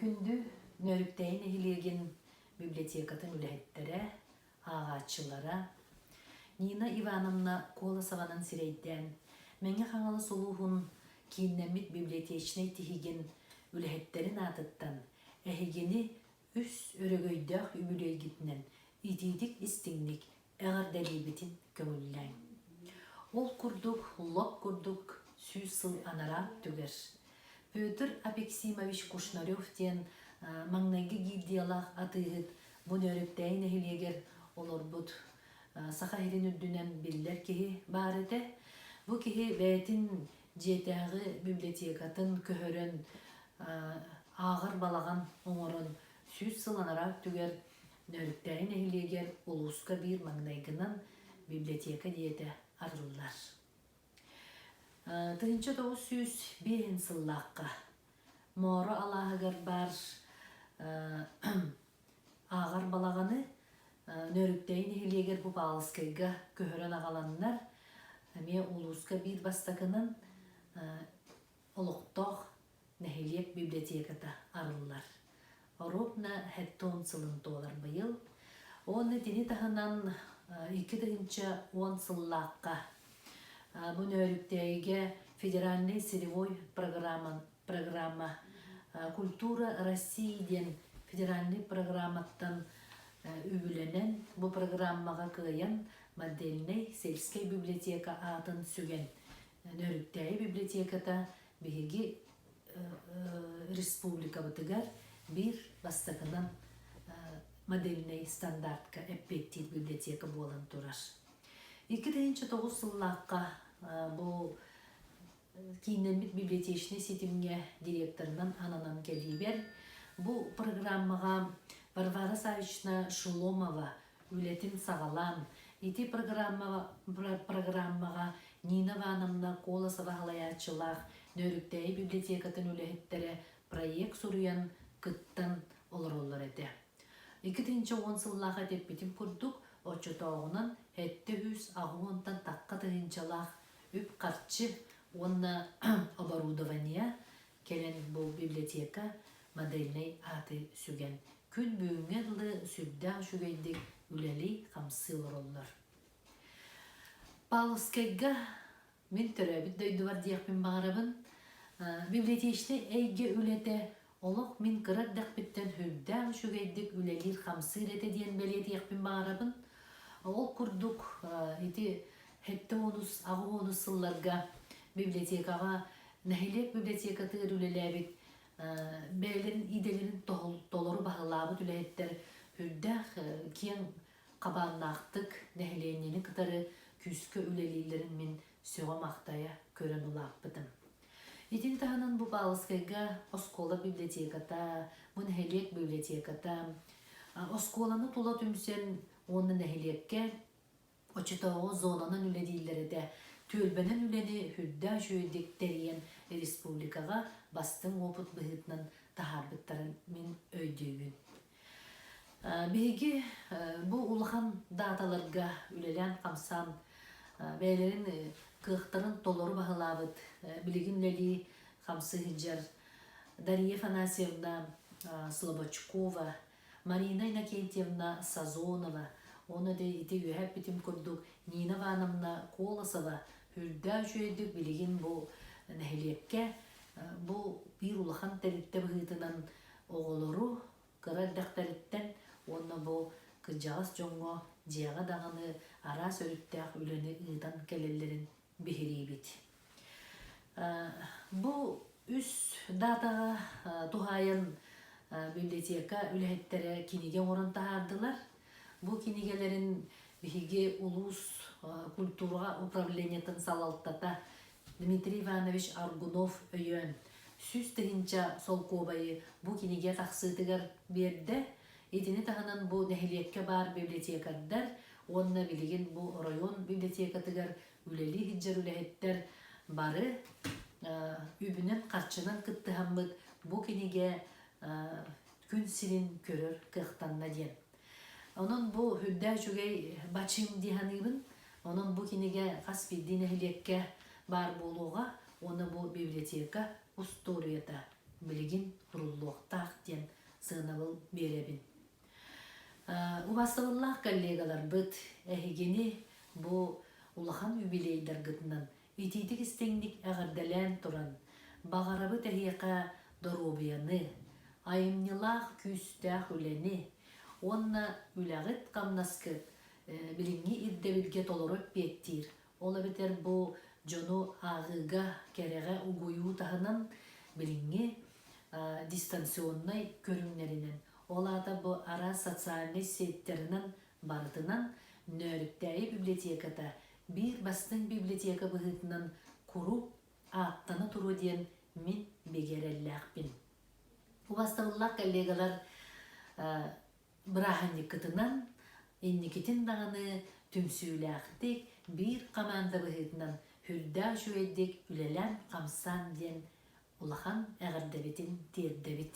Күндү Нөрүктэйи нэһилиэгин библиотекатын үлэһиттэрэ, ааҕааччылара Нина Ивановна Колосованың сирэйдээн Мэҥэ Хаҥалас улууһун кииннэммит библиотечнай тиһигин үлэһиттэрин аатыттан эһигини үс өрөгөйдөөх үбүлүөйгитинэн итиитик-истиҥник эҕэрдэлиибитин көҥүллээҥ. Ол курдук лоп курдук сүүс сыл анараа өттүгэр Петр Апексимович Кушнарев диэн маҥнайгы гильдиялаах атыыһыт Бунөөрүктээйи нэһилиэгэр олорбут Саха сирин үрдүнэн биллэр киһи баар этэ. Бу киһи бэйэтин дьиэтээҕи библиотекатын көһөрөн ааҕар балаҕан оҥорон сүүс сыл анараа өттүгэр Нөрүктэри нэһилиэгэр улууска биир маҥнайгынан библиотека диэтэ арыллар. Тыһыынча тоҕус сүүс биэһин сыллаахха Мооро алааһыгар баар ааҕар балаҕаны Нөрүктэй нэһилиэгэр бу Паалскайга көһөрөн аҕаланнар эмиэ улууска биир бастакынан Олохтоох нэһилиэк библиотеката арыллар. Оруобна һэттон сылын туолар быйыл. Уонна итини таһынан икки тыһыынча уон сыллаахха бу Нөөрүктээйигэ федеральнай сыревой программа, программа Культура России диэн федеральнай программаттан үбүлэнэн бу программаҕа кыайан модельнай сельскэй библиотека аатын сүгэн Нөрүктээйи библиотеката биһиги республикабытыгар биир бастакынан модельнай стандартка эппиэттиир библиотека буолан турар. Икки тыһыынча тоҕус сыллаахха бу кииннэммит библиотечнай ситимҥэ директорынан ананан кэлиибэр бу программаҕа Варвара Савична Шеломова үлэтин саҕалаан, ити программаҕа Нина Ивановна Колосова салайааччылаах Нөөрүктээйи библиотекатын үлэһиттэрэ проект суруйан, кыттан олороллор этэ. Икки тыһыынча уон сыллаах этэппитим курдук, оччотооҕунан сэттэ үс аҕыс уонтан тахха тыһыынчалаах үп-харчы уонна оборудование Кэлин бу библиотека модельнай ааты сүгэн, күн бүгүҥҥэ дылы сүрдээх үчүгэйдик үлэлии-хамсыы олороллор. Павловскайга мин төрөөбүт дойдубар диэхпин баҕарабын. Библиотечнай эйгэ үлэтэ олох мин кыра эрдэхпиттэн сүрдээх үчүгэйдик үлэлиир-хамсыыр этэ диэн бэлиэтиэхпин баҕарабын. Ол курдук, ити сэттэ уонус, аҕыс уонус сылларга библиотекаҕа Нэһилиэк библиотекатыгар үлэлээбит бэйэлэрин идэлэрин толору баһылаабыт үлэһиттэр үрдээх киэҥ хабааннаахтык нэһилиэнньэни кытары күүскэ үлэлииллэрин мин сөҕө-махтайа көрөн улааппытым. Итини таһынан бу Баалыскайга оскуола библиотеката, бу нэһилиэк библиотеката, оскуоланы тула түмсэн уонна нэһилиэккэ Оччотооҕу зонанан үлэлииллэр этэ. Түөлбэнэн үлэни сүрдээх үчүгэйдик тэрийэн республикаҕа бастыҥ уопут быһыытынан таһаарбыттарын мин өйдүүбүн. Биһиги бу улахан дааталарга үлэлээн-хамсаан бэйэлэрин кыахтарын толору баһылаабыт билигин үлэлии хамсыһыдьар Дария Афанасьевна Слободчукова Марина Иннокентьевна Сазонова уонна дьэ ити үөһэ эппитим курдук Нина Ивановна Колосова үрдээх үчүгэйдик билигин бу нэһилиэккэ бу биир улахан тэрилтэ быһыытынан оҕолору кыра эрдэхтэриттэн уонна бу кырдьаҕас дьоҥҥо дьиэҕэ даҕаны араас өрүттээх үлэни ыытан кэлэллэрин биһириибит. Бу үс даатаҕа туһаайан библиотека үлэһиттэрэ кинигэ оҥорон таһаардылар. Бу кинигэлэрин биһиги улуус культураҕа управлениетын салалтата Дмитрий Иванович Аргунов өйөөн сүүс тыһыынча солкуобайы бу кинигэ тахсыытыгар биэрдэ. Итини таһынан бу нэһилиэккэ баар библиотекардар уонна билигин бу оройуон библиотекатыгар үлэлии сылдьар үлэһиттэр бары үбүнэн-харчынан кыттыһаммыт бу кинигэ күн сирин көрөр кыахтанна диэн. Онон бу үрдээ үчүгэй бачыым дии саныыбын. Онон бу кинигэ хас биирдии нэһилиэккэ баар буолуоҕа уонна бу библиотека устуоруйата билигин куруллуохтаах диэн сыанабыл биэрэбин. Убаастабыллаах коллегаларбыт, эһигини бу улахан юбилейдаргытынан итиитик-истиҥник эҕэрдэлээн туран, баҕарабыт эһиэхэ доруобуйаны, айымньылаах күүстээх үлэни уонна үлэҕит-хамнаскыт билиҥҥи ирдэбилгэ толору эппиэттиир Ол эбэтэр бу дьону ааҕыыга кэрэҕэ угуйуу таһынан билиҥҥи дистанционнай көрүҥнэринэн, ол аата бу араас социальнай сеттэринэн барытынан Нөөрүктээйи библиотеката биир бастыҥ библиотека быһыытынан куруук ааттана туруо диэн мин бигэрэллээхпин. У бастабыллаах коллегалар Бырааһынньыккытынан инникитин даҕаны түмсүүлээхтик, биир хамаанда быһыытынан үрдээх үчүгэйдик үлэлээн-хамсаан диэн улахан эҕэрдэбитин тиэрдэбит.